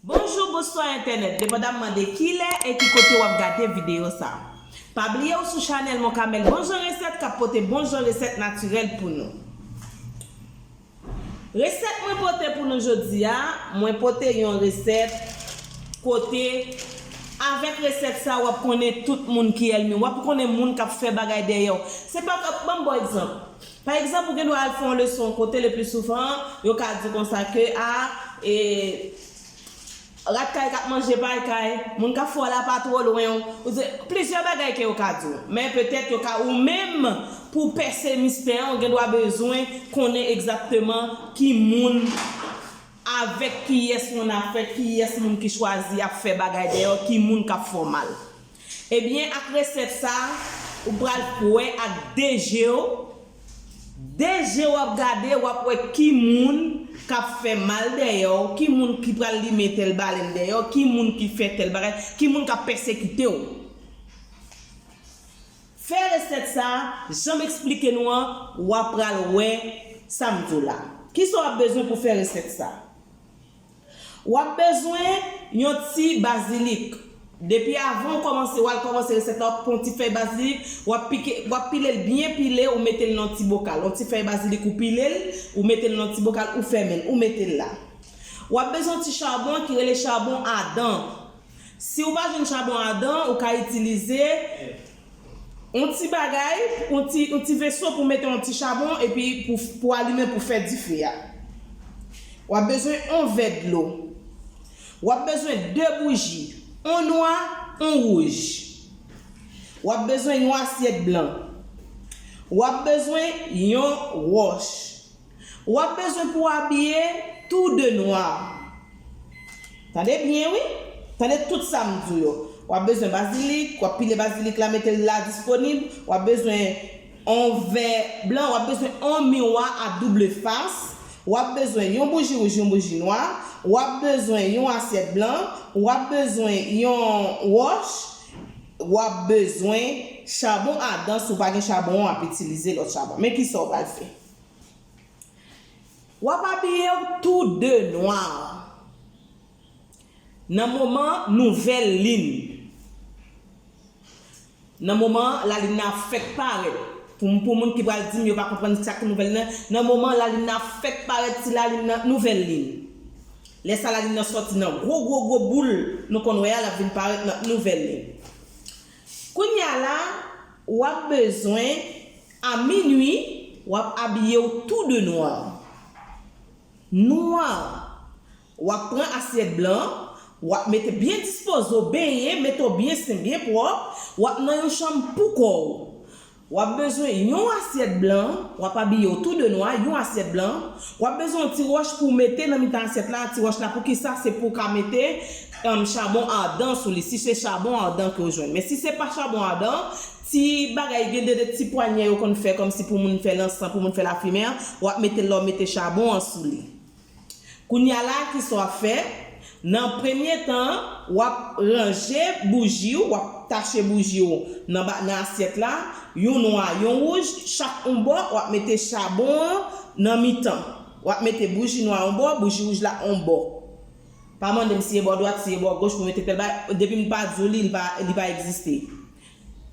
Bonjou bonswa entènèt depandamman de kilè e ki kote wap gade video sa pa bliye ou sou chanèl monkamèl bonjan resèt kap pote bonjan resèt natirèl pou nou. Resèt mwen pote pou nou jodi a, mwen pote yon resèt kote avèk resèt sa wap konnen tout moun ki èlmiw, wap konnen moun kap fè bagay dèyèw. Se pa kòm, banm baw egzanp. Pa egzanp ou gen dwa al fè yon leson kote le pli souvan yo ka di konsa ke a e. Rat kay kap manje pay kay, moun kap fè w la pa two lwen w, plizyè bagay ke yo ka di w. Men petèt yo ka ou menm pou w pèse mistè an ou gen dwa bezwen konnen egzakteman ki moun, avèk kiyès moun ap fèt, kiyès moun ki chwazi ap fè bagay dèyè w, ki moun kap fè w mal. Ebyen ak resèt sa ou pral k wè ak 2 jew 2 je wap gade wap wè ki moun kap fè mal dèyèw ki moun ki pral limen tèl balèn dèyèw ki moun ki fè tèl bagay ki moun kap pèsekitew fè resèt sa janm esplike nou an wa pral wè sam diw la kisa wap bezwen pou fè resèt sa. Wap bezwen Yon ti bazilik. Depi avan ou kòmanse wal kòmanse resèt la ou pran yon ti fèy bazilik wap pike wap pilel byen pile ou metel nan yon ti bokal yon ti fèy bazilik ou pilel ou metel nan yon ti bokal ou fèmenl ou metel la wap bezwen yon ti chabon ki rele chabon adan siw pa jwenn chabon adan ou ka itilize On ti bagay, on ti, on ti veso pou mete on ti chabon epi pou, pou alimen pou fè dife a. W ap bezwen on vè dlo. W ap bezwen de bouji, on nwa, on wouj. W ap bezwen yon asyèt blan. W ap bezwen yon wòch. W ap bezwen pou w abiye tou de nwa. Tande byen wi! Tande tout sa m di w yo. W ap bezwen bazilik, w ap pile bazilik la mete l la disponib, w ap bezwen on vè blan, w ap bezwen on miwa a double fas, w ap bezwen yon bouji wouj, yon bouji nwa, w ap bezwen yon asyèt blan, w ap bezwen yon wòch, w ap bezwen chabon adan si w pa gen chabon an w ap itilize lòt chabon. Men kisa w pral fè. Wap abiyew tou de nwa nan moman nouvèl lin nan moman lalin nan ap fèk parèt pou moun ki pral dim yo pa konprann sak nouvèl lin nan moman lalin nan ap fèk parèt ti lalin nan nouvèl lin lè sa lalin nan sòti nan gwo gwo gwo boul nou konn wè a lap vin parèt nan nouvèl lin. Kounya la wap bezwen a minwi wap abiyew tou de nwa. Nwa. Wap pran asyèt blan an, wap mete byen dispoze w benyen, mete w byen sen byen pwòp, wap nan yon chanm pou kò w. Wap bezwen yon asyèt blan, wap abiye w tou de nwa, yon asyèt blan, wap bezwen yon ti wòch pou w mete nan mitan asyèt la, ti wòch la poukisa se pou w ka mete chabon ardan sou li si se chabon ardan ke w jwenn men si se pa chabon ardan ti bagay gen 2 de ti pwanyè yo konn fè kòmsi pou moun fè lansan pou moun fè lafimen an wap mete lè w mete chabon an sou li. Kounya la a kisa w ap fè? Nan premye tan an, w ap ranje bouji w, w ap tache bouji w nan nan asyèt la, yon nwa, yon wouj, chak yon bò, w ap mete chabon an nan mitan. W ap mete bouji nwa yon bò, bouji wouj la yon bò. Pa mande m si e bò dwat, si e bò goch pou mete tèl bagay, depi m pa di w li, li pa li pa egziste.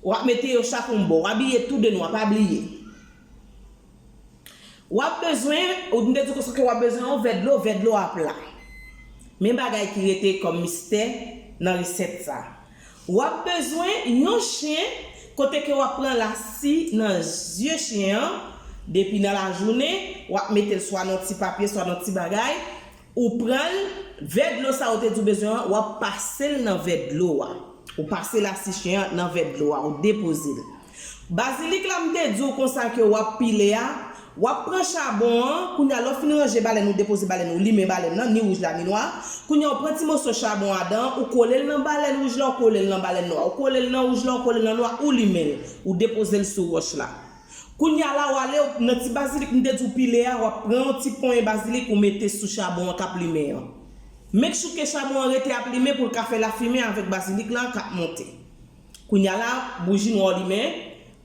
W ap mete yo chak yon bò. W abiye tou de nwa, pa bliye. Wap bezwen, ou t mte di kousa ke wap bezwen yon vè dlo, vè dlo a pla. Men bagay ki rete kòm mistè nan resèt sa. Wap bezwen yon chen kote ke wap pran lasi nan zye chen an depi nan lajounen, wap metel swa nan yon ti papye swa nan yon ti bagay, Ou pranl, vè dlo sa ou te di ou bezwen an, wap pasel nan vè dlo a. Ou pase lasi chen an nan vè dlo a, ou depoze l. Bazilik la m te di w konsa ke wap pile a, wap pran chabon an, kounye a lè w fin ranje balèn ou depoze balèn ou limen balèn nan, ni wouj la ni nwa, kounye a ou pran ti moso chabon a adan an, ou kole l nan balèn wouj la ou kole l nan balèn nwa, ou kole l nan wouj la ou kole l nan nwa ou limen l, ou depoze l sou wòch la. Kounya la wale ou nan ti bazilik m te di w pile a wap pran yon ti ponyen bazilik ou mete sou chabon an kap limen an. Make sure ke chabon an rete ap limen pou l ka fè lafimen avèk bazilik la kap monte. Kounya la bouji nwa w limen,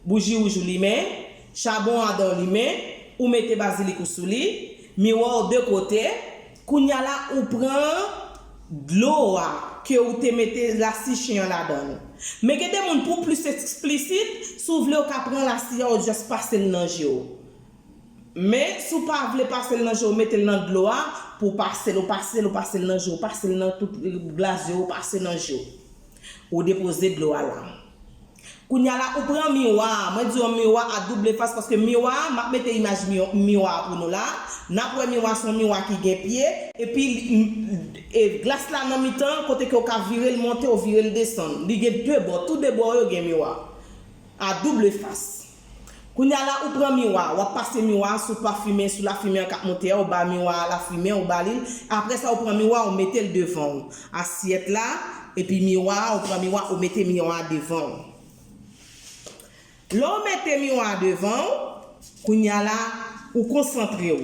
bouji wouj ou limen, chabon adan w limen, ou mete bazilik ou sou li, miwa w de kote, Kounya la ou pran dlo a ke ou te mete lasi chen an ladann. Men gen de moun pou plis eksplisit, si w vle ou ka pran lasi a ou just pase l nan je w. Men si w pa vle pase l nan je w mete l nan dlo a pou w pase l ou pase l ou pase l nan je w pase l nan tout glas je w ou pase nan je w. Ou depoze dlo a la. Kounya la ou pran miwa a, mwen di yon miwa a double fas paske miwa a, map mete imaj miwa a pou nou la, nap wè miwa son miwa ki gen pye, epi glas la nan mitan kote ke ou ka virel monte ou virel desann, li gen 2 bò, tou 2 bò yo gen miwa a double fas. Kounya la ou pran miwa wap pase miwa a sou pa fimen sou la fimen an kap monte a ou ba miwa a la fimen ou ba li l aprè sa ou pran miwa a ou mete l devan ou asyèt la epi miwa a ou pran miwa ou mete miwa a devan ou lè ou mete miwa a devan ou kounya la ou konsantre ou.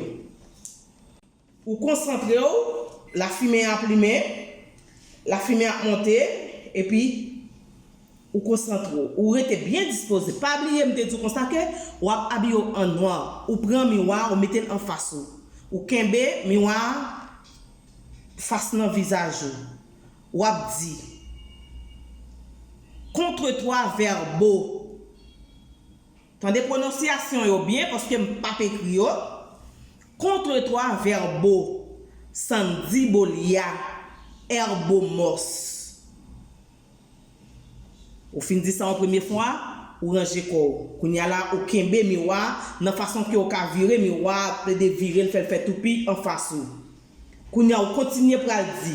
Ou konsantre w, lafimen an ap limen, lafimen an ap monte, epi ou konsantre w. Ou rete byen dispoze. Pa bliye m te di w konsa ke w ap abiye w an nwa. Ou pran miwa a, ou mete l anfas ou. Ou kenbe miwa a fas nan vizaj ou. W ap di, Contre toi, Verbo. Tande pwononsyasyon yo byen paske m pa p ekri yo, contre trois verbaux, Sandy Bolia, Herbomos. Ou fin di sa yon premye fwa, ou ranje kò w. Kounye a la, ou kenbe miwa a nan fason ke w ka vire miwa a, plede vire l fè l fè toupi anfas ou. Kounye a ou kontinye pral di,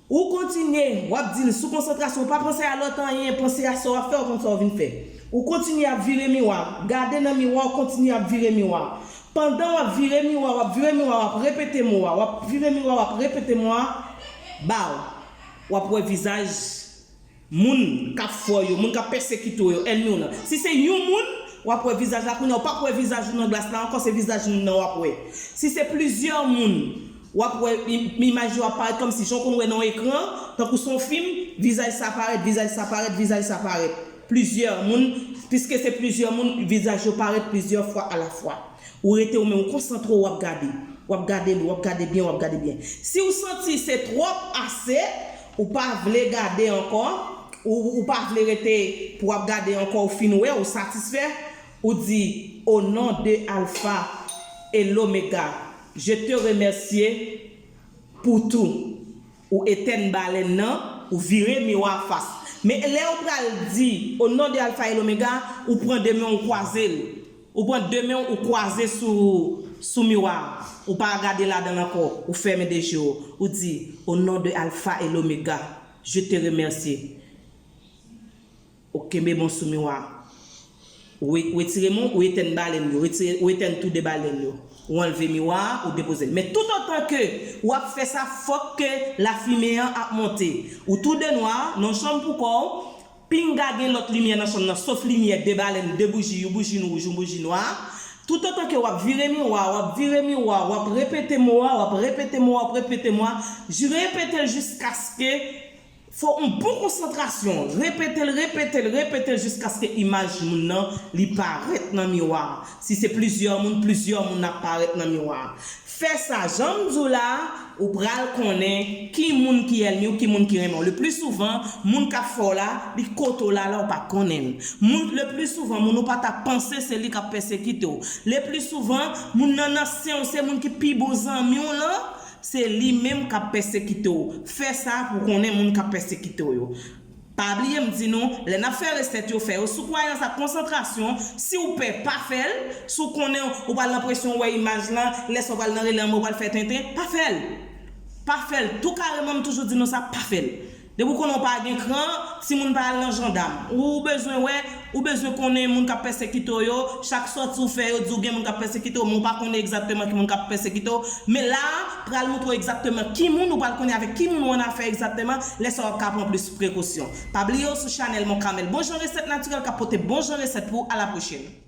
Ou kontinye, w ap di l, sou konsantrasyon, pa panse a lòt anyen, panse a sa w ap fè, ou konn sa w vin fè. Ou kontinye ap vire miwa, gade nan miwa, ou kontinye ap vire miwa. Pandan w ap vire miwa, w ap vire miwa, w ap repete mo a, w ap vire miwa, w ap repete mo a, baww, w ap wè vizaj Moun kap fè w yo, moun kap pèsekite w yo, ènmi w lan. Si se yon moun, w ap wè vizaj la, kounye a w pap wè vizaj ou nan glas la ankò, se vizaj moun nan w ap wè. Si se plizyè moun, w ap wè imaj yo ap parèt kòmsi jan w konn wè nan yon ekran, tankou se yon fim, vizaj sa parèt, vizaj sa parèt, vizaj sa parèt. Plizyè moun, piske se plizyè moun, vizaj yo parèt plizyè fwa alafwa. Ou rete ou menm, ou konsantre w, w ap gade. W ap gade l, w ap gade byen, w ap gade byen. Si w santi se twòp, ase. Ou pa vle gade ankò, ou ou pa vle rete pou ap gade ankò ou fin wè ou satisfè, ou di o non de alfa e lomega je te remèsye pou tou, ou etèn balèn nan, ou vire miwa fas. Men lè ou pral di o non de alfa e lomega, ou pran de men ou kwaze l, Ou pran de men w ou kwaze sou sou miwa a, ou pa gade ladan l ankò, ou fèmen de je w, ou di, O non de Alfa e Lomega, je te remèsye. Ou kenbe men w sou miwa a. Ou ou etire men w, ou etèn balèn yo, ou etire ou etèn tou de balèn yo. Ou anlve miwa a, ou depoze l. Men toutotan ke ou ap fè sa fòk ke lafimen an ap monte. Ou tou de nwa, nan yon chanm pou kò w, Pinga gen lòt limyè nan chanm nan sof limyè de balèn, de bouji, you boujin wouj, you boujin nwa. Toutotan ke wap vire miwa a, wap vire miwa a, wap repete mo a, wap repete mo a, wap repete mo a, j repete l jiskaske fò on bon konsantrasyon, repete l, repete l, repete l jiskaske imaj moun nan li parèt nan miwa a. Si se plizyè moun, plizyè moun ap parèt nan miwa a. Fè sa janm di w la ou pral konnen ki moun ki èlmi w ki moun ki renmen w le pli souvan moun kap fè w la li kote w la la ou pa konnen l moun le pli souvan moun ou pa ta panse se li kap pèsekite w le pli souvan moun nan nan sen w se moun ki pi bon zanmi w lan se li menm kap pèsekite w fè sa pou w konnen moun kap pèsekite w yo. Pa bliye m di nou, lè nap fè resèt yo, fè yo sou kwayans ak konsantrasyon, siw pè pa fèl, si w konnen ou pral nan presyon ou wè imaj lan, lè sa w pral nan relè anba ou pral fè tenten, pa fèl! Pa fèl tou kareman m toujou di nou sa, pa fèl! Depi w konnen w pa gen kran, timoun pa al nan jandam, ou bezwen wè, Ou bezwen konnen moun k ap pèsekite w yo, chak sòti ou fè yo di w gen moun k ap pèsekite w men w pa konnen egzakteman ki moun k ap pèsekite w, men la a pral montre w egzakteman ki moun, ou pral konnen avèk ki moun ou annafè egzakteman, lè sa a w ap ka pran plis prekosyon. Pa bliye w sou chanèl Mon Camel, bon jan resèt natirèl k ap pote bon jan resèt pou w, a la pwochèn.